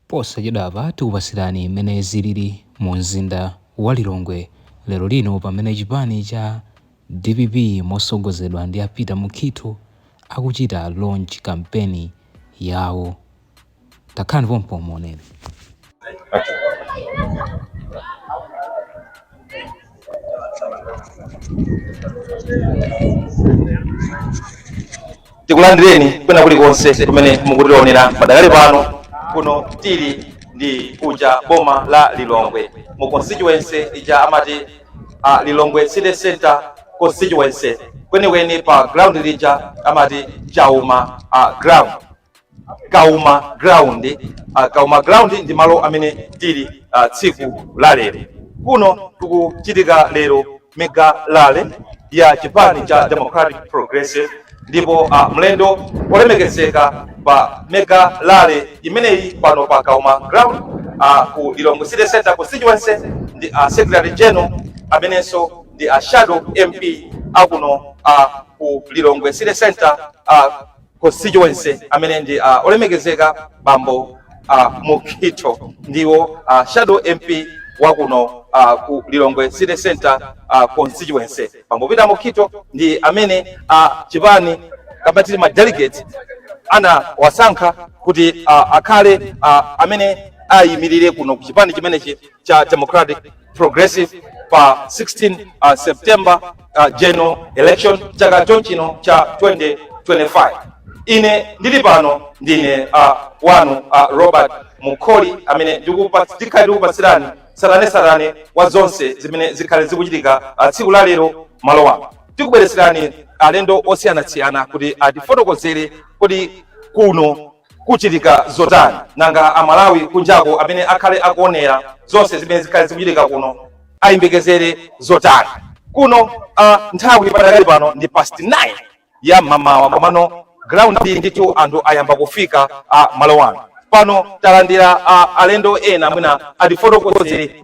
Posachedwapa tikupasirani mmene zilili mu mzinda wa Lilongwe lero lino pamene chipani cha dpp mosogozedwa ndi a Peter Mukhitho akuchita launch kampeni yawo. Takhalani pompo muonere. tikulandireni kwina kulikonse kumene mukutionera padakali pano kuno tili ndi kuja boma la lilongwe mu constituency ija amati uh, lilongwe city center constituency kwenikweni pa ground lija amati Kauma uh, ground kauma ground uh, kauma ground ndi malo amene tili uh, tsiku la lero kuno kukuchitika lero mega rally ya chipani cha democratic progressive ndipo uh, mlendo olemekezeka pa mega rally imeneyi pano pa kauma ground uh, ku lilongwe city center constituency ndi uh, secretary general amenenso ndi a shadow mp akuno uh, ku lilongwe city center uh, constituency amene ndi uh, olemekezeka bambo uh, Mukhitho ndiwo uh, shadow MP wa kuno uh, ku Lilongwe City Center uh, constituency. Bambo Peter Mukhitho ndi amene uh, chipani kapena titi ma delegate anawasankha kuti uh, akhale uh, amene ayimirire kuno ku chipani chimenechi cha Democratic Progressive pa 16 uh, September uh, general election chaka chomwechino cha 2025 ine ndili pano ndine uh, wanu uh, Robert Mukoli amene ndikupatsi- ndikhale ndikukupatsirani tsatanetsatane wa zonse zimene zikhale zikuchitika uh, tsiku la lero malo ano tikubweretserani alendo osiyanasiyana kuti atifotokozere kuti kuno kuchitika zotani nanga amalawi kunjako amene akhale akuonera zonse zimene zikhale zikuchitika kuno ayembekezere zotani kuno uh, nthawi padakali pano ndi past 9 ya mamawa komano ground iyi ndithu anthu ayamba kufika uh, malo ano pano talandira uh, alendo ena mwina atifotokozere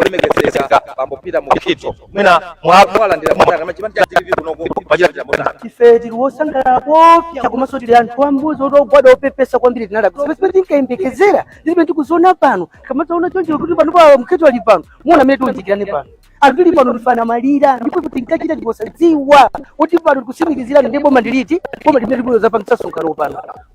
olemekezeka bambo peter mukhitho mwina mwalandira motani ngati a chipani cha dpp kunoko machitira motani ife tili wosangalala koopsya komanso tili anthu ambuzi oti ogwada opepesa kwambiri tinada pamene pamene tinkayembekezera ndipamene tikuziona pano kamataona choncho kuti pano a mukhitho ali pano muona mmene tiunjikirane pano anthu tili pano tikufuna maliro ndipo tinkachita mosadziwa kuti pano tikutsimikizirani ndi boma ndiliti boma limene tikuloza pamsonkhano pano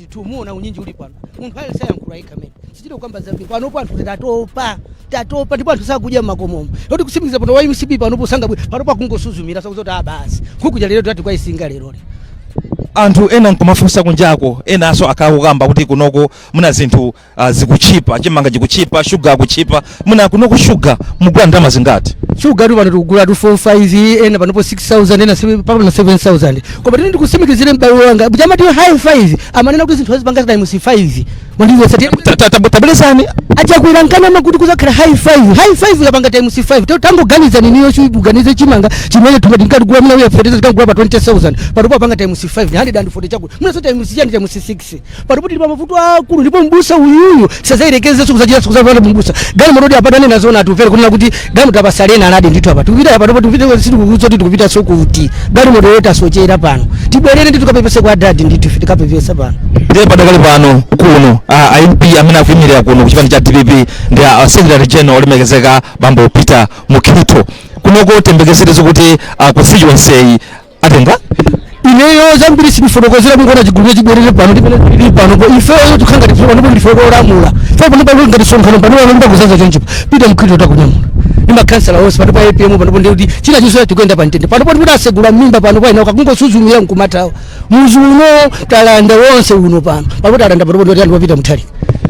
ndithu muona unyinji uli pano munthu aliyense ayankhula yekha mmene sitichita kukamba zambiri panopo anthu tatopa tatopa ndipo anthu sakudya mmakomomo moti kutsimikiza pano wa mcp panopo sangabwe panopo akungosuzumira sakuti kuti abasi nkhukuja lero tati kwayipsinga leroli anthu ena nkumafunsa kunjako enanso akhala akukamba kuti kunoko muna zinthu Ah, zikutchipa chimanga chikutchipa shuga akutchipa mwina kunoko shuga mugula ndalama zingati shugatu pano tikugula tu 45 ena panopo 6000 ena seven- mpaka pano 7000 koma tini ndikusimikizire m'bale wanga kuti amati high 5 amanena kuti zinthu azipanga times 5 mwandiyesa Ta- ta- ta- tabwerezani a chakwera ankanama kuti kuzakhala high 5 high 5 ikapanga times 5 to tangoganizani inuyo chuganize chimanga chimene timati tinkagula mna uya fertilizer tinkagula pa 20000 panopo apanga times 5 140 chakuti mwinanso times chani times 6 basi panopo tili pa mavuto aakulu ndipo mbusa uyuyu asazayerekezenso kuzachitanso kuzapata mbusa galimototu apa tanena zoona atimvere kunena kuti galimoto apase ena adadi ndithu apa tikupita apa ndipo tikupita sitikudziwa kuti tikupitanso kuti galimoto yoti yasochera pano tibwerere ndi tukapepese kwa adadi ndithu ife tikapepesa pano ndiye padakali pano kuno a a mp amene akuyimirira kuno ku chipani cha dpp ndi a a secretary general olemekezeka bambo peter mukhito kunoko tiyembekezere zokuti a constituency atenga ineyo zambiri sindifotokozera mungoona chigulu chibwerere pano tipene tili panopo ifeyo tikhanga tifuka ndipo ndife olamula ife pano pano ngati msonkhano pano pano ndipakuzaza chonchi apa peter mukhito takunyamula ndi makhansala onse pano pa apm panopo ndikuti china chinso tikuyenda pa mtendere panopo ndikuti asegula m'mimba pano pa ena akungosuzumira mkumatawo muzi uno talanda wonse uno pano pano talanda panopo ndikuti ndi a peter mutharika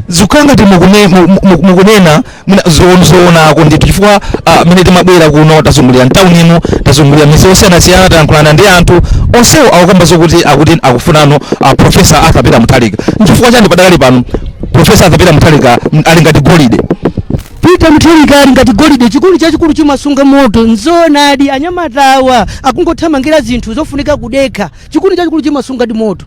zikukhala ngati mukune- mu- mu- mukunena mwina zoon- zoonako ndithu chifukwa ah, mmene timabwera kuno tazungulira mtawuni ino tazungulira midzi yosiyanasiyana tayankhulana ndi anthu onsewo akukamba zokuti akuti akufunano ah, profesa arthur peter mutharika nchifukwa chani padakali pano profesa arthur peter mutharika mm, ali ngati golide peter mutharika ali ngati golide chikuni chachikulu chimasunga moto nzoonadi anyamatawa akungothamangira zinthu zofunika kudekha chikuni chachikulu chimasunga ndi moto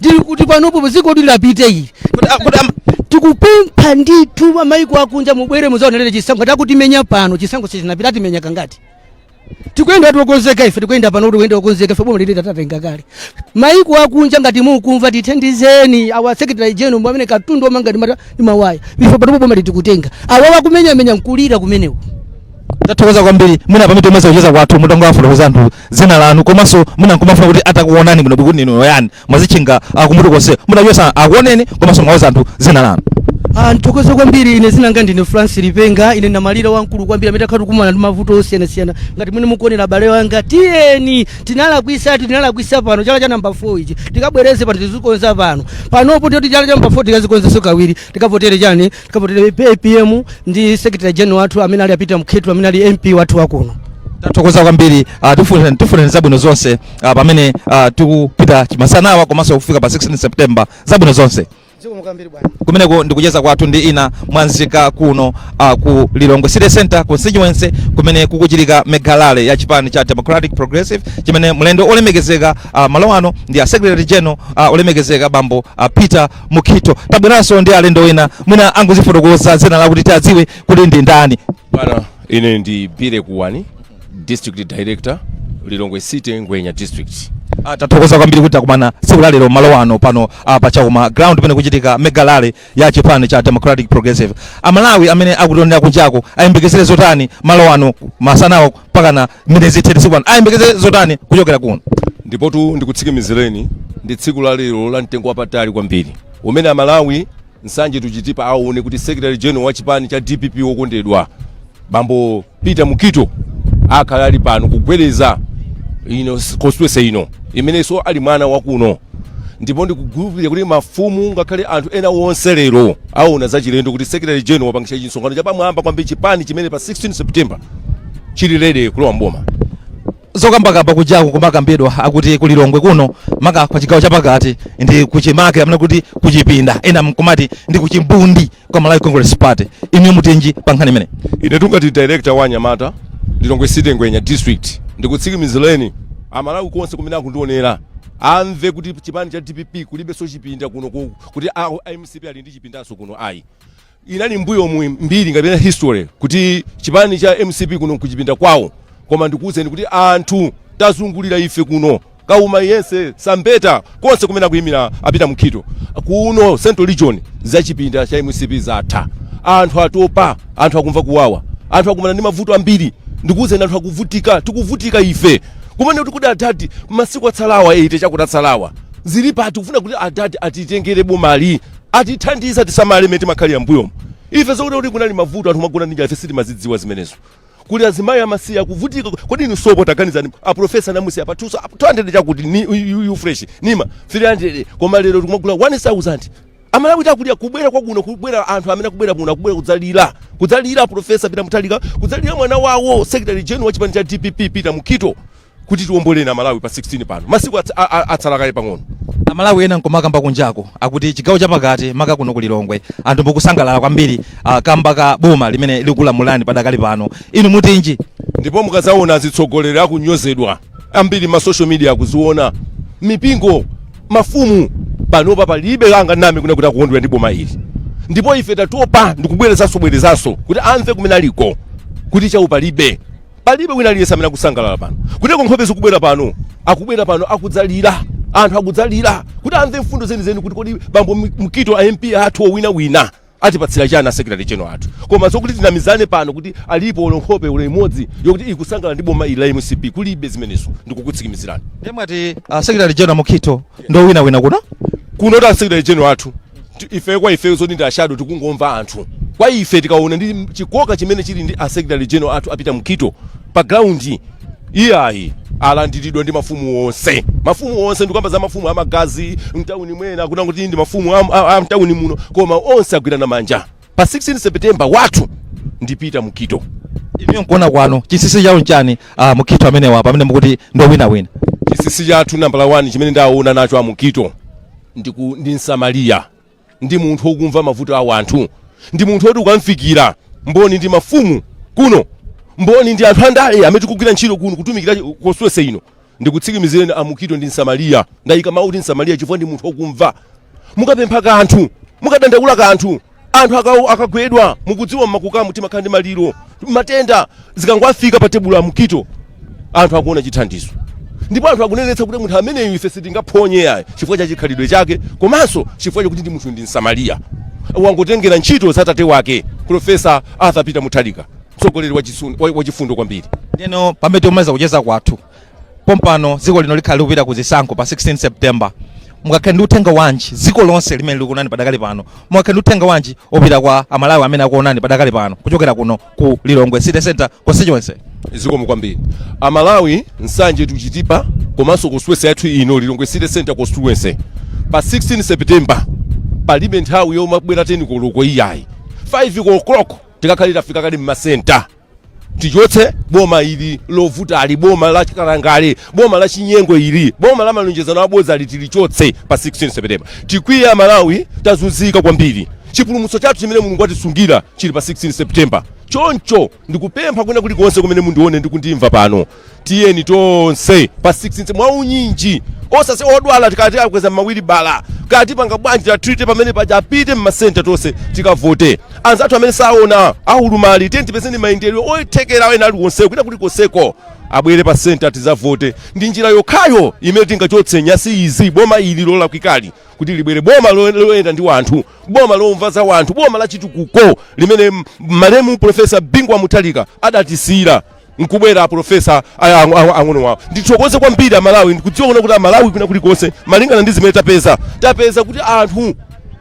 ndikuti panopo paziko kuti lapite ili Kuti- ah, kuti am- tikupempha ndithu amaiko akunja mubwere muzaonelere chisankho takutimenya pano chisankho sichinapita timenya kangati tikuyenda tokonzeka ife tikuyenda pano tikuyenda tokonzeka ife boma ili tatenga kale maiko akunja ngati mukumva tithandizeni awa secretary general mwa amene katundu omanga ndi mawaya ife panopo boma ili tikutenga awa akumenyamenya nkulira kumenewo tathokoza kwambiri mwina pamene tikumaliza kucheza kwathu mutangowafotokozera anthu dzina lanu komanso mwina nkumafuna kuti atakuonani bwino kuti ndinu yani mwazitchinga ah, kumutu konse mwina chotsani akuoneni komanso muwauze anthu dzina lanu Ah, nthokoze kwambiri ine dzina langa ndine france lipenga ine namalira wamkulu kwambiri amene takhala tikukumana ndi mavuto osiyanasiyana ngati mmene mukuonera abale wanga tiyeni tinalakwisa ati tinalakwisa pano chala cha namba 4 ichi tikabwereze pano tizikonza pano panopo ndiye kuti chala cha namba 4 tikazikonzenso kawiri tikavotere chani kavotere apm ndi secretary general wathu amene ali a peter mukhito amene ali mp wathu wakuno tathokoza kwambiri ah, tifune- tifuneni zabwino zonse ah, pamene ah, tikupita chamasanawa komanso kufika pa 16 september zabwino zonse kumeneko ndikucheza kwathu ndi ina mwa nzika kuno uh, ku lilongwe city center constituency kumene kukuchitika mega rally ya chipani cha democratic progressive chimene mlendo olemekezeka uh, malo ano ndi a secretary general uh, olemekezeka bambo uh, peter Mukhito. Tabweranso ndi alendo ena mwina angodzifotokoza dzina lawo kuti tiadziwe kuti ndi ndani. Bwana, ine ndi Bire Kuwani, District Director, Lilongwe City, Ngwenya District. Ah, tathokoza kwambiri kuti takumana tsiku la lero malo ano pano ah, pa Kauma ground pamene kuchitika mega rally ya chipani cha Democratic Progressive. Amalawi amene akutionera kunjako ayembekezere zotani malo ano masanawo mpakana mmene zithere tsikuli ayembekezere zotani kuchokera kuno ndipotu ndikutsikimizireni ndi tsiku la lero la mtengo wapatali kwambiri umene amalawi nsanje tuchitipa aone kuti secretary general wa chipani cha dpp wokondedwa bambo peter mukhito akhala ali pano kugwedeza ino constituency ino imenenso ali mwana wakuno ndipo ndikukhulupirira kuti mafumu ngakhale anthu ena onse lero aona zachilendo kuti secretary general wapangitsa chisonkhano chapamwamba kwambiri chipani chimene pa 16 september chili ready kulowa mboma zokambakamba kunjaku kumakambidwa akuti kulilongwe kuno maka pa chigawo chapakati ndi kuchimake amene akuti kuchipinda ena nkumati ndi kuchimbundi kwa malawi congress party inu mutinji pa nkhani imeneyi ine tungati director wa anyamata lilongwe city ngwenya district ndikutsikimizireni amalawi konse kumene akundionera amve kuti chipani cha dpp kulibenso chipinda kuno ku- kuti a- a mcp ali ndi chipindanso kuno ayi Inali mbuyomu mbiri kapena history kuti chipani cha mcp kuno kuchipinda kwawo koma ndikuwuzeni kuti anthu tazungulira ife kuno kauma yense sambeta konse kumene akuyimira a peter mukhito kuno central region za chipinda cha mcp zatha anthu atopa anthu akumva kuwawa anthu akumana ndi mavuto ambiri ndikuwuzeni anthu akuvutika tikuvutika ife kumene kuti adadi masiku atsalawa eite chakuti atsalawa zilipo tikufuna kuti adadi atitengere bomali atithandize tisamale mmene timakhalira mmbuyomu ife zoti kunali mavuto anthu kumagona ndi njala ife sitimazidziwa zimenezo kuli azimayi amasiye akuvutika kodi inu sopo taganizani a professor anamusiya pa 200 chakuti ni yu- yu fresh ndi ma 300 koma lero tikumagula 1000 amalawi akulira kubwera kwakuno kubwera anthu amene akubwera kuno akubwera kudzalira kudzalira profesa peter mutharika kudzalira mwana wawo secretary general wa chipani cha dpp peter mukhito kuti tiomboleni amalawi pa 16 pano masiku ats- a- a- atsala kaye pang'ono amalawi ena nkumakamba kunjako akuti chigawo chapakati maka kuno ku lilongwe anthu mukusangalala kwambiri ah, kamba ka boma limene likulamulani padakali pano inu mutinji ndipo mukadzaona azitsogoleri akunyozedwa ambiri ma social media akuziona mipingo mafumu panopa palibe angandinamize kuno kuti akukondwera ndi boma ili ndipo ife tatopa ndikubwerezanso bwerezanso kuti amve kumene aliko kuti chawo palibe palibe wina aliyense amene akusangalala pano kuteko nkhope zikubwera pano akubwera pano akudzalira anthu akudzalira kuti amve mfundo zenizeni kuti kodi bambo Mi- mukhito a mp athu owina wina atipatsira chani asecretary general athu koma zokuti tinamizane pano kuti alipo olo nkhope olo imodzi yokuti ikusangalala ndi boma ili la mcp kulibe zimenezo ndikukutsimikizirani nde mwati uh, secretary general mukhito ndowinawina kuno kunotu asecretary general athu ti- ife kwa ife zoti ndi a shadow tikungomva anthu kwa ife tikaona ndi chikoka chimene chili ndi asecretary general athu a peter mukhito pa ground iyayi alandiridwa ndi mafumu onse mafumu onse ndikukamba za mafumu amagazi mtawuni mwena akuti ndi mafumu a- a- a mtawuni muno koma onse agwirana manja pa 16 september wathu ndi peter mukhito inuyo nkuona kwanu chinsinsi chawo nchani a mukhito amenewa pamene mukuti ndowinawina chinsinsi chathu nambala 1 chimene ndaona nacho amukhito ndi, ku, ndi msamariya ndi munthu wokumva mavuto a wanthu ndi munthu woti ukamfikira mboni ndi mafumu kuno mboni ndi anthu andale amene tikugwira ntchito kuno kutumikira constituency ino Ndikutsikimizireni a Mukito ndi Msamaliya. Ndayika mawu kuti Msamaliya chifukwa ndi munthu okumva. Mukapempha kanthu, mukadandaula kanthu, anthu akawo akagwedwa, mukudziwa mmakukamu timakhala ndi maliro, matenda, zikangowafika pa tebulo a Mukhito, anthu akuona chithandizo. Ndipo anthu akunenetsa kuti munthu ameneyu ife sitingaphonye yayi chifukwa cha chikhalidwe chake komanso chifukwa chakuti ndi munthu ndi Msamaliya. Wangotengera ntchito za tate wake, Prof. Arthur Peter Mutharika. mtsogoleri wachifundo kwambiri. Ndeno pamene tikumaliza kucheza kwathu pompano, dziko lino likhala likupita ku zisankho pa 16 September, mungakhale ndi uthenga wanji dziko lonse limene likuonani padakali pano, mungakhale ndi uthenga wanji opita kwa amalawi amene akuonani padakali pano kuchokera kuno ku Lilongwe City Center constituency? Zikomo kwambiri amalawi, nsanje to chitipa komanso constituency yathu ino Lilongwe City Center constituency pa 16 September palibe nthawi yomabwera 10 koloko iyayi 5 o'clock tikakhale tafika kale m'masenta tichotse boma ili lovutali boma la chikalangale boma la chinyengo ili boma la malonjezano abodzali tilichotse pa 16 septemba tikwiye amalawi tazunzika kwambiri chipulumutso chathu chimene mulungu watisungira chili pa 16 septemba choncho ndikupempha kwina kulikonse kumene mundione ndikundimva pano tiyeni tonse pa 16 mwaunyinji osasiya odwala kaya tiwakweza mawilibala kaya tipanga bwanji tatrite pamene paja apite mmasenta tonse tikavote anzathu amene saona aulumali tiyeni tipezeni mayendedwe othekera ena aliwonse kwina kulikonseko abwere pa senta tizavote ndi njira yokhayo imene tingachotse nyasi izi boma ili lolakwikali kuti libwere boma lo- loyenda ndi wanthu boma lomva za wanthu boma la chitukuko limene m- malemu profesa bingu wa muthalika adatisiyira nkubwera aprofesa ang'ono wawo ndithokoze kwambiri amalawi ndikudziwa kuti amalawi kwina kulikonse malingana ndi zimene tapeza tapeza kuti anthu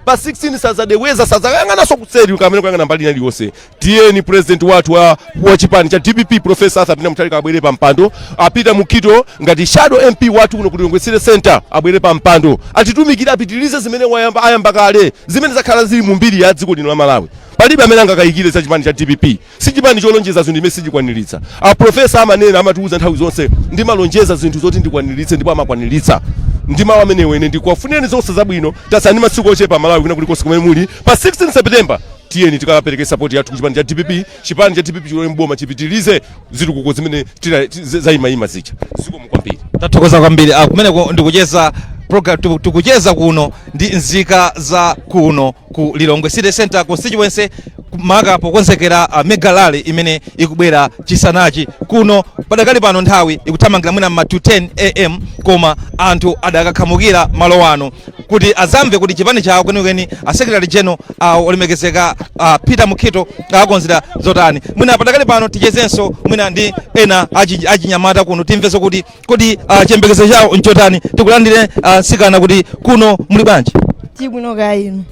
pa 16 sadzacheukanso sazayang'ananso kuseri kapena kuyang'ana mbali ina iliyonse tiyeni president wathu wa, wa chipani cha dpp profesa arthur peter mutharika abwere pa mpando a peter mukhito ngati shadow mp wathu kuno ku lilongwe city center abwere pa mpando atitumikire apitirize zimene wayamba ayamba kale zimene zakhala zili mu mbiri ya dziko lino la malawi palibe amene angakayikire za chipani cha dpp Si chipani cholonjeza zinthu zimene sichikwanilitsa. A Profesa amanena, amatiuza nthawi zonse, ndimalonjeza zinthu zoti ndikwanilitse ndipo amakwanilitsa. Ndi mawu amenewo ine ndikufunireni zonse zabwino. Tatsala ndi masiku ochepa Amalawi kwina kulikonse kumene muli. Pa 16 September tiyeni tikapereke sapoti yathu ku chipani cha dpp. Chipani cha dpp chilowe m'boma chipitilize zitukuko zimene tina- ti- za- zayimayima zija. Zikomo kwambiri. tathokoza kwambiri ah, kumeneko ndikucheza program tiku- tikucheza kuno ndi nzika za kuno ku lilongwe city center constituency maka pokonzekera uh, mega rally imene ikubwera chisanachi kuno padakali pano nthawi ikuthamangira mwina mma to 10 am koma anthu adakakhamukira malo ano kuti azamve kuti chipani chawo kwenikweni a secretary general uh, olemekezeka uh, peter mukhito awakonzera zotani mwina padakali pano tichezenso mwina ndi ena achi- achinyamata kuno timvenso kuti Kodi uh, chiyembekezo chawo nchotani? Tikulandire uh, msikana kuti kuno muli bwanji? Tili bwino kaya inu.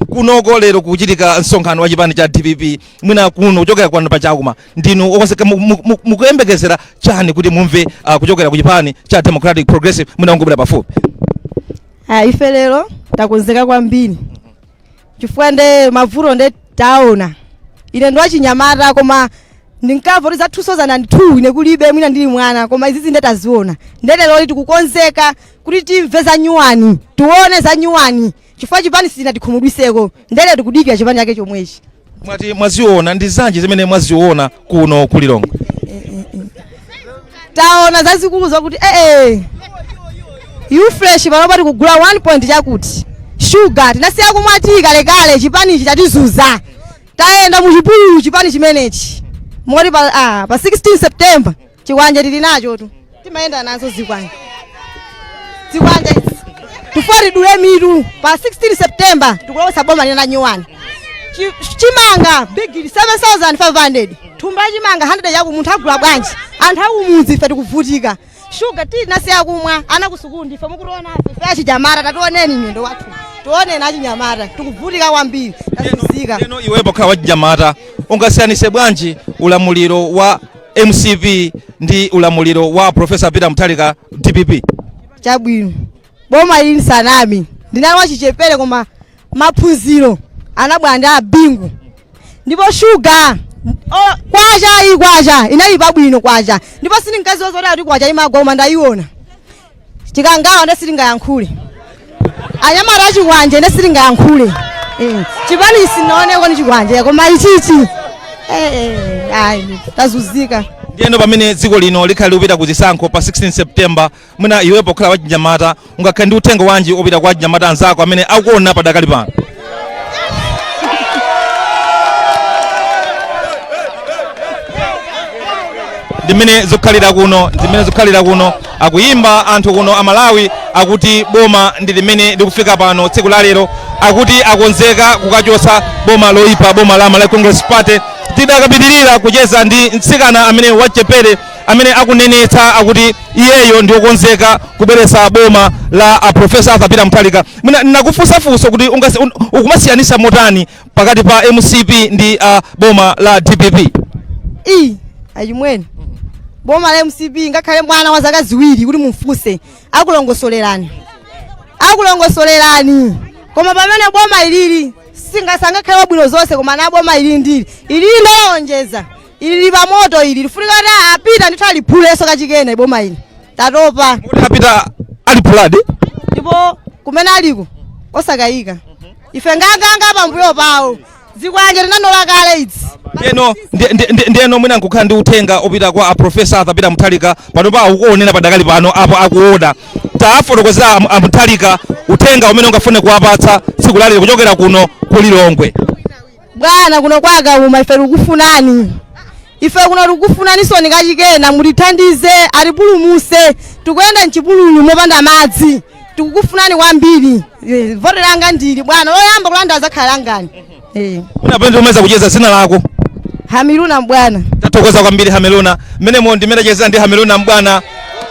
kunoko lero kuchitika msonkhano wa chipani cha dpp mwina kuno kuchokera kwanu pa chakuma ndinu okonzeka mu- mu- mu- mukuyembekezera chani kuti mumve ah, kuchokera ku chipani cha democratic progressive mwina ungobwera pafupi Ah, ife lero takonzeka kwambiri chifukwa nde mavuto nde taona ine ndi wachinyamata koma ndinkamva kuti za 2002 ine kulibe mwina ndili mwana koma izizi nde taziona nde leroli tikukonzeka kuti timve za nyuwani tione za nyuwani chifukwa chipani sitinatikhumudwiseko nde lero tikudikira chipani chake chomwechi Mwati mwaziona ndi zanji zimene mwaziona kuno ku Lilongwe? taona zazikulu zokuti ee ufresh panopa tikugula 1 point chakuti shuga tinasiya kumwa tiyi kalekale chipanichi chatizunza tayenda muchipululu chipani chimenechi moti pa, ah, pa 16 september chikwanje tili nachotu timayenda nazo zikwanje zikwanje tufuna tidule mitu pa 16 september tikulowesa boma lina nyuwani Chi- chimanga bigili 7500 thumba la chimanga 100 yaku munthu agula bwanji anthu akumudzi ife tikuvutika shuga tinasiya kumwa ana kusukulu ndife mukutiona ife achinyamata tationeni miyendo yathu tioneni achinyamata tikuvutika kwambiri tazunzika Ndeno iwe pokhala wachinyamata ungasiyanise bwanji ulamuliro wa mcp ndi ulamuliro wa profesa peter mutharika dpp chabwino boma ili nsanami ndinali wachichepere koma maphunziro anabwera ndi abingu ndipo shuga o- kwacha iyi kwacha inali pabwino kwacha ndipo sindinkaziwa zoti ati kuti kwacha imagwa koma ndayiona chikangawa nde sitingayankhule anyamata achikwanje nde sitingayankhule Eh, chipani sinaoneko nchikwanje koma ichichi eh, eh, ayi tazuzika ndiyeno pamene dziko lino likhali likupita ku zisankho pa 16 september mwina iwe pokhala wachinyamata ungakhale ndi uthenga wanji opita kwa achinyamata anzako amene akuona padakali pano ndimene zikukhalira kuno ndimene zikukhalira kuno akuyimba anthu kuno amalawi akuti boma ndi limene likufika pano tsiku la lero akuti akonzeka kukachosa boma loyipa boma la malawi congress party tidakapitirira kucheza ndi mtsikana ameneyu wachichepere amene akunenetsa akuti iyeyo ndiokonzeka kubweretsa boma la a profesa arthur peter muthalika Mwina ndakufunsa funso kuti ungasi- un- ukumasiyanisa motani pakati pa mcp ndi uh, boma la dpp i achimwene boma la mcp ngakhale mwana wa zaka ziwiri kuti mumfunse akulongosolerani akulongosolerani koma pamene boma ilili singasangakhale wabwino zonse koma na boma ilili ndili ilili ndalonjeza ilili pamoto ili lifunika kuti apite ndithu aliphulenso kachikena boma ili tatopa kuti apite aliphuladi ndipo kumene aliko osakayika ife nganganga pambuyo pawo zikwanje tinanola kale idzi ndiyeno ndi- ndi- ndi- ndiyeno mwina nkukhala ndi uthenga wopita kwa aprofesa arthur peter muthalika panopa akukuonera padakali pano apo akuona tawafotokozera am- amuthalika uthenga umene ungafune kuwapatsa tsiku lalero kuchokera kuno ku lilongwe bwana kuno kwa kauma ife tikufunani ife kuno tikufunaninso ku chikena mutithandize mutipulumuse tikuyenda mchipululu mopanda madzi tikukufunani kwambiri Eh, voti langa ndili bwana loyamba kulanda azakhala langani Eh, ndikapanda kumaliza kucheza zina lako hamiluna mbwana tathokoza kwambiri hameluna mmenemo ndimachezera ndi hameluna mbwana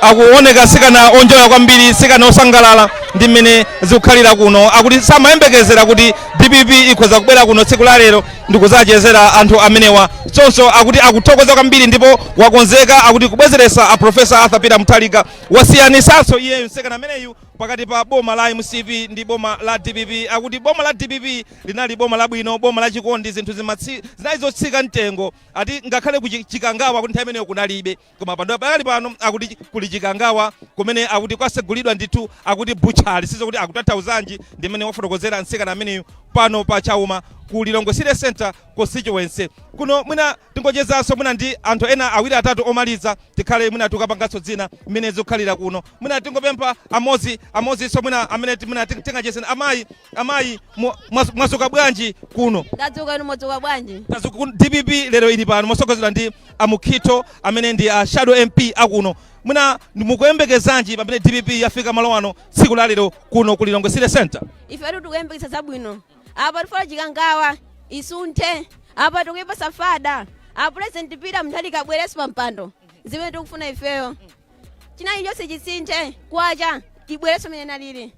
akuoneka msikana onjoya kwambiri msikana osangalala ndi mmene zikukhalira kuno akuti samayembekezera kuti Dpp ikhoza kubwera kuno tsiku la lero ndikuzachezera anthu amenewa choncho akuti akuthokoza kwambiri ndipo wakonzeka akuti kubwezeretsa a professor arthur peter muthalika wasiyanisanso iyeyo msikana ameneyu pakati pa boma la mcp ndi boma la dpp akuti boma la dpp linali boma labwino boma la chikondi zinthu zimatsi- zinali zotsika mtengo ati ngakhale ku Chi- chikangawa akuti nthawi imeneyo kunalibe koma padakali pano akuti kuli chikangawa kumene akuti kwasegulidwa ndithu akuti butchali sidziwa kuti akutanthauzanji ndi mmene wafotokozera mtsikana ameneyu pano pa chauma ku lilongwe city center constituency kuno mwina tingochezanso mwina ndi anthu ena awiri atatu omaliza tikhale mwina tikapanganso zina mmene zikukhalira kuno mwina tingopempha amodzi amodziso mwina amene ti- mwina ting- tingacheze ndi amayi Amayi mwa- mwa- mwadzuka bwanji kuno? Ndadzuka inu mwadzuka bwanji? Tadzuka kuno DPP lero ili pano mosogozedwa ndi a Mukhito amene ndi a Shadow MP akuno. Mwina ndi- mukuyembekezanji pamene DPP yafika malo ano tsiku la lero kuno ku Lilongwe City Center? Ife atu tikuyembekeza zabwino. Apa tifuna chikangawa isunthe. Apa tikuyipatsa fire. A president Peter Mutharika abwerenso pa mpando. Zimene tikufuna ifeyo. china chilichonse chisinthe kwacha ibwerenso mmene inalili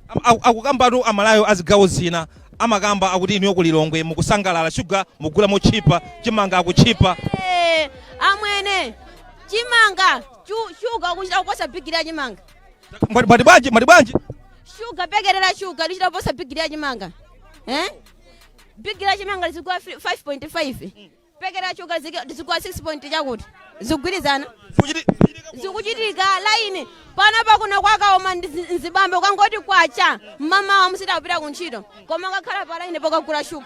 Am- aku- akukambatu aMalawi a zigawo zina amakamba akuti inuyo ku lilongwe mukusangalala shuga mugula motchipa chimanga chikutchipa Eh, amwene chimanga chu- shuga kuchita kuposa bigiri ya chimanga Mwati- mwati bwanji mwati bwanji shuga paketi la shuga lichita kuposa bigiri ya chimanga eh? bigiri ya chimanga lizigwa 5.5 paketi la shuga lizigwa 6 point chakuti zikugwirizana Zikuchiti- zikuchitika laini panopa kuno kwa Kauma ndi zi- nzibambo kwangoti kwacha mmamawa mmalo kupita ku ntchito koma akakhala pa laini pokagula shuga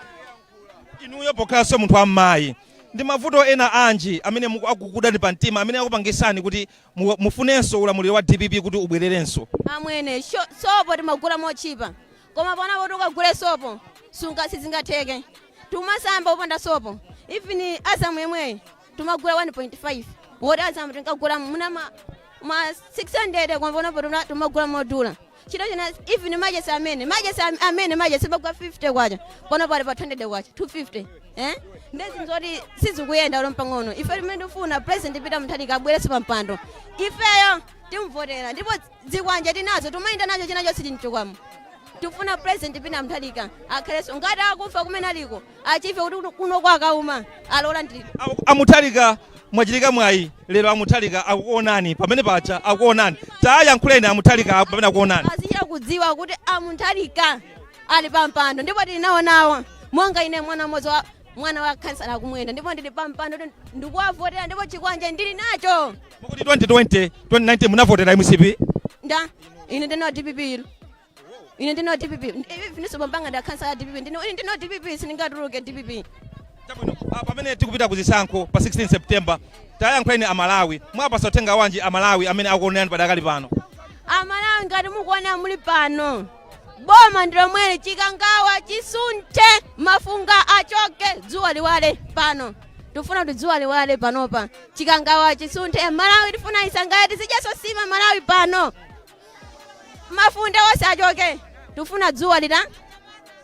inuyo pokhalanso munthu wammayi ndi mavuto ena anji amene muku- akukudani pa mtima amene akupangisani kuti mu- mufunenso ulamuliro wa dpp kuti ubwererenso amwene sho- sopo timagula mochipa koma panopo kuti ukagule sopo sunga sizingatheke tumasamba opanda sopo even Azam yemweyi tumagula 1.5 woti Azam tinkagula muna ma, ma 600 koma panopo tuma- tumagula modula chinachilichonse even machesi amene machesi am- amene machesi amagwa 50 kwacha panopa ali pa 200 kwacha 250 eh nde zinthu sizikuyenda olo mpang'ono ife chimene tifuna president peter mutharika abwereso pa mpando ifeyo timvotera ndipo zikwanje tinazo tumayenda nacho china chonse sitichokamo tufuna president Peter Mutharika akhaleso ngati akumva kumene aliko adziwe kuti kuno kwa Kauma alola ndi a Mutharika mwachitika mwayi lero a Mutharika akuonani pamene paja akuonani tayankhuleni a Mutharika apo pamene akuonani azichita kudziwa kuti a Mutharika ali pampando ndipo tili nawonawo monga ine mwana mmodzi wa mwana wa khansala a Kumwenda ndipo ndili pampando kuti ndikuwavotera ndipo chikwanje ndili nacho Mukuti 2020, 2019 munavotera mcp? Nda, ine ndine wa DPP ilo. Ine ndine wa DPP. Evennso pampando wa khansala ya DPP. Ndine ine ndine wa DPP sindingatuluke DPP. Chabwino, ah, pamene tikupita ku zisankho pa 16 September, tayankhuleni Amalawi. Mwapasa uthenga wanji Amalawi amene akuonerani padakali pano? Amalawi ngati mukuona muli pano. Boma ndi lomweli chikangawa chisunthe mafunga achoke dzuwa liwale pano. Tufuna kuti dzuwa liwale panopa. chikangawa chisunthe malawi tifuna isangalale tizidyaso nsima malawi pano mafunde onse achoke tifuna dzuwa lita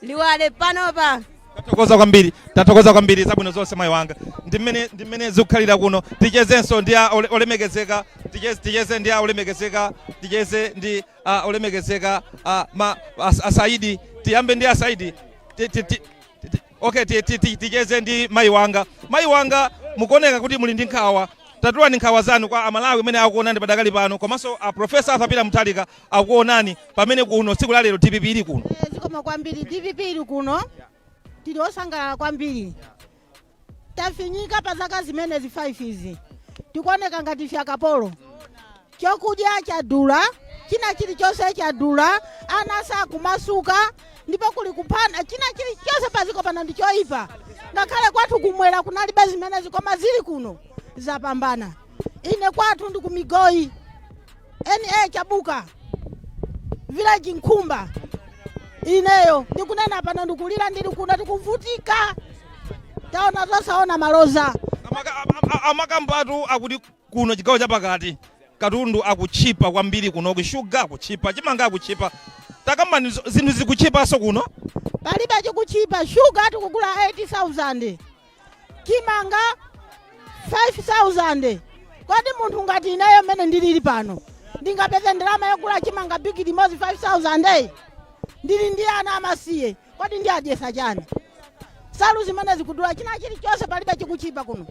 liwale panopa tathokoza kwambiri tathokoza kwambiri zabwino zonse mayi wanga ndi mmene ndi mmene zikukhalira kuno tichezenso ndi a ole- olemekezeka ticheze, ticheze ndi a olemekezeka ticheze ndi a olemekezeka a ma as- asaidi tiyambe ndi asaidi Ti- ti- ti- ti- ti- Okay, ti- ti- ti- ticheze ndi mayi wanga. Mayi wanga, mukuoneka kuti muli ndi nkhawa. Tatulani nkhawa zanu kwa Amalawi amene akuonani padakali pano, komanso a Professor Arthur Peter Mutharika akuonani pamene kuno tsiku la lero DPP ili kuno. Eh, zikomo kwambiri dpp ili kuno tili osangalala kwambiri tafinyika pa zaka zimenezi 5 izi tikuoneka ngati ife akapolo Chokudya chadula, china chilichonse chadula, ana sakumasuka ndipo kuli kuphana, china chilichonse paziko pano ndi choipa. Ngakhale kwathu kumwera kunalibe zimenezi koma zili kuno zapambana. Ine kwathu ndi kumigoyi TA Chabuka village Nkhumba. Ineyo ndikunena pano ndikulira ndili kuno tikuvutika. Taona zosaona maloza. Amaka- am- am- amakambatu akuti Kuno chigawo chapakati katundu akutchipa kwambiri kunoku sugar akutchipa chimanga akutchipa takambani zinthu zikutchipanso kuno? Palibe chikutchipa sugar tikugula 8000 chimanga 5000 kodi munthu ngati ineyo mmene ndilili pano ndingapeze ndalama yogula chimanga bigili imodzi 5000 ndili ndi ana amasiye Kodi ndiwadyesa chani? Salu zimene zikudula china chilichonse palibe chikuchipa kuno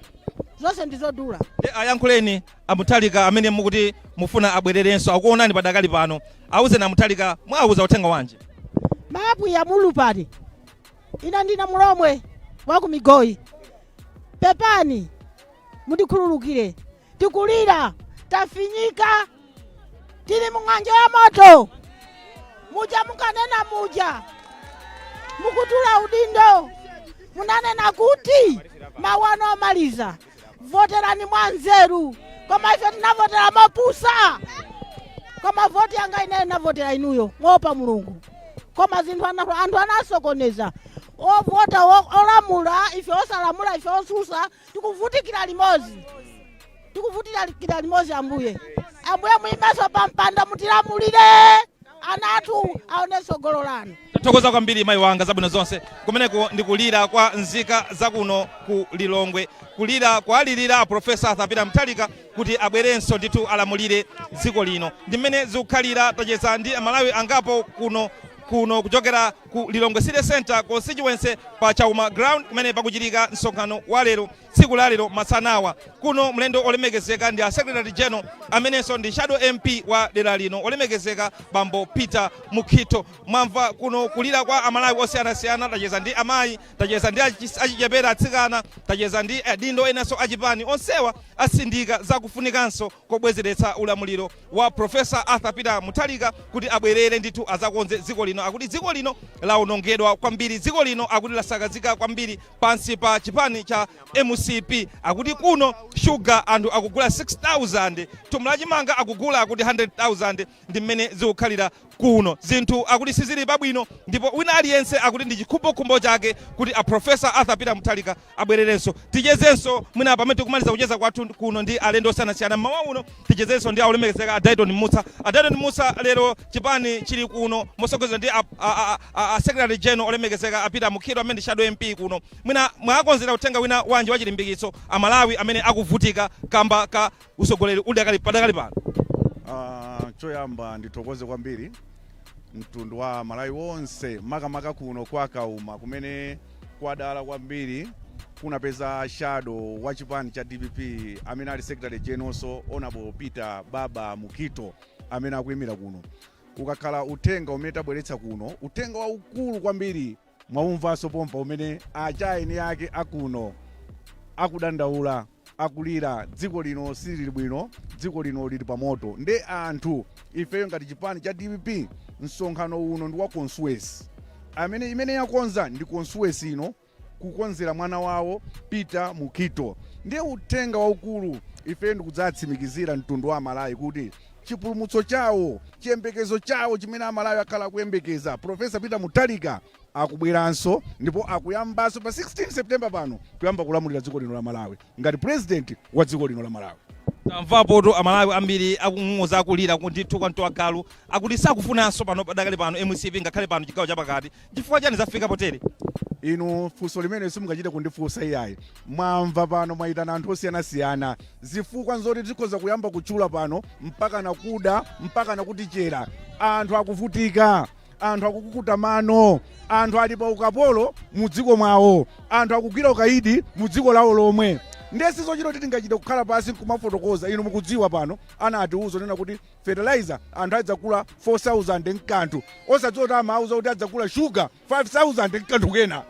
zonse ndi zodula. Nde ayankhuleni a Mutharika amene mukuti mufuna abwererenso akuonani padakali pano auzeni a Mutharika muwauza uthenga wanji? Apwiya mulupale ine ndine Mulomwe wakumigoyi pepani mundikhululukire Tikulira, tafinyika, tili mu ng'anjo ya moto, muja munkanena muja, mukutula udindo, munanena kuti mawu anu omaliza, voterani mwa nzeru, koma ife tinavotera mopusa, koma voti yanga ineyo navotera inuyo moopa mulungu, koma zinthu ana- anthu anasokoneza ovota o- olamula ife osalamula ife osusa Tikuvutikira limodzi, tikuvutikira limodzi Ambuye. Ambuye muimenso pa mpando mutilamulire, ana athu aone tsogolo lanu. tathokoza kwambiri mayi wanga zabwino zonse kumeneko ndi kulira kwa nzika zakuno ku lilongwe kulira kuwalirira a Professor Arthur Peter Mutharika kuti abwerenso ndithu alamulire dziko lino ndi mmene zikukhalira tacheza ndi amalawi angapo kuno kuno kuchokera ku Lilongwe City Centre Constituency pa Kauma Ground kumene pakuchitika msonkhano wa lero tsiku la lero masanawa. Kuno mlendo olemekezeka ndi a Secretary General amenenso ndi Shadow MP wa dera lino olemekezeka Bambo Peter Mukhito. Mwamva kuno kulira kwa Amalawi osiyanasiyana, tacheza ndi amayi, tacheza ndi achi- achichepere atsikana, tacheza ndi adindo enanso achipani onsewa asindika zakufunikanso kobwezeretsa ulamuliro wa Professor Arthur Peter Mutharika kuti abwerere ndithu azakonze dziko lino akuti dziko lino laonongedwa kwambiri dziko lino akuti lasakazika kwambiri pansi pa chipani cha mcp akuti kuno sugar anthu akugula 6000 thumba la chimanga akugula akuti 100000 Ndi mmene zikukhalira kuno. Zinthu akuti sizili pabwino ndipo wina aliyense akuti ndi chikhumbokhumbo chake kuti a Prof. Arthur Peter Mutharika abwererenso. Tichezenso mwina pamene tikumaliza kucheza kwathu kuno ndi alendo osiyanasiyana mmawa uno. Tichezenso ndi a Olemekezeka a Dyton Mussa. A Dyton Mussa, lero chipani chili kuno motsogozedwa ndi a Secretary General olemekezeka a Peter Mukhito amene ndi Shadow MP kuno. Mwina mwakonzera uthenga wina wanji wachilimbikitso Amalawi amene akuvutika kamba ka. utsogoleri udakali padakali pano? Uh, choyamba ndithokoze kwambiri mtundu wa Malawi wonse makamaka kuno kwa Kauma kumene kwadala kwambiri kunapeza shadow wa chipani cha DPP amene ali secretary generalnso honorable Peter Baba Mukhito amene akuyimira kuno ukakhala uthenga umene tabweretsa kuno uthenga waukulu kwambiri Mwaumvanso pompa umene acha eni ake akuno akudandaula akulira dziko lino silili bwino dziko lino lili pa moto nde anthu ifeyo ngati chipani cha dpp msonkhano uno ndi wa constituency amene imene yakonza ndi constituency ino kukonzera mwana wawo Peter Mukhito nde uthenga waukulu ifeyo ndikudzatsimikizira mtundu wa Amalawi kuti chipulumutso chawo, chiyembekezo chawo chimene Amalawi akhala akuyembekeza. Prof. Peter Mutharika akubweranso ndipo akuyambanso pa 16 September pano kuyamba kulamulira dziko lino la Malawi ngati president wa dziko lino la Malawi. Tamvapotu Amalawi ambiri akung'ung'uza, akulira ndithu kwa mtu wagalu. Akuti sakufunanso pano padakali pano mcp ngakhale pano chigawo chapakati. N'chifukwa chiyani zafika potere? Inu funso limeneli simungachite kundifunsa iyayi. Mwamva pano mwaitana anthu osiyanasiyana. Zifukwa n'zoti tikhoza kuyamba kutchula pano mpakana kuda, mpakana kutichera. Anthu akuvutika, anthu akukukuta mano, anthu ali pa ukapolo mu dziko mwawo, anthu akugwira ukaidi mu dziko lawo lomwe. Ndiye si zochita kuti tingachite kukhala pansi n'kumafotokoza. Inu mukudziwa pano anatiuza onena kuti fertilizer anthu adzagula 4000 nkanthu osadziwa kuti amauza kuti adzagula sugar 5000 nkanthu kena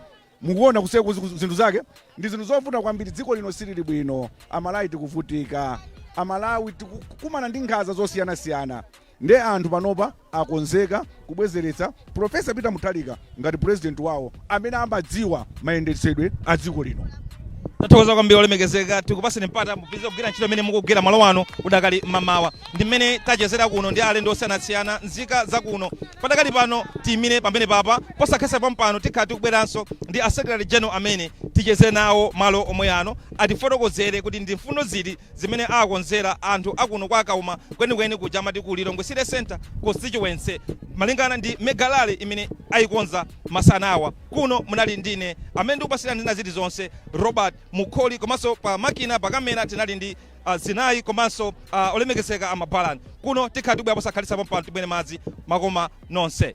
mukuona kuseko zinthu zake ndi zinthu zovuta kwambiri dziko lino silili bwino amalawi tikuvutika amalawi tikukumana ndi nkhanza zosiyanasiyana nde anthu panopa akonzeka kubwezeretsa Prof Peter Mutharika ngati president wawo amene amadziwa mayendetsedwe a dziko lino. Tathokoza kwambiri olemekezeka tikupaseni mpata mupitirize kugwira ntchito imene mukugwira malo ano udakali mamawa ndi mmene tachezera kuno ndi alendo osiyanasiyana nzika zakuno padakali pano tiyimire pamene papa posakhalitsa pompano tikhala tikubweranso ndi a secretary general amene ticheze nawo malo omwe ano atifotokozere kuti ndi mfundo ziti zimene akonzera anthu a kuno kwa Kauma kwenikweni kuja amati ku Lilongwe City Centre Constituency malingana ndi Mega Rally imene ayikonza masana awa. Kuno munali ndine amene ndikupatsirani zina zilizonse Robert Mkholi komanso pa makina, pa camera tinali ndi Zinayi komanso olemekezeka a Mabalan. Kuno tikhala tikubwera posakhalitsa pompano timwere madzi makoma nonse.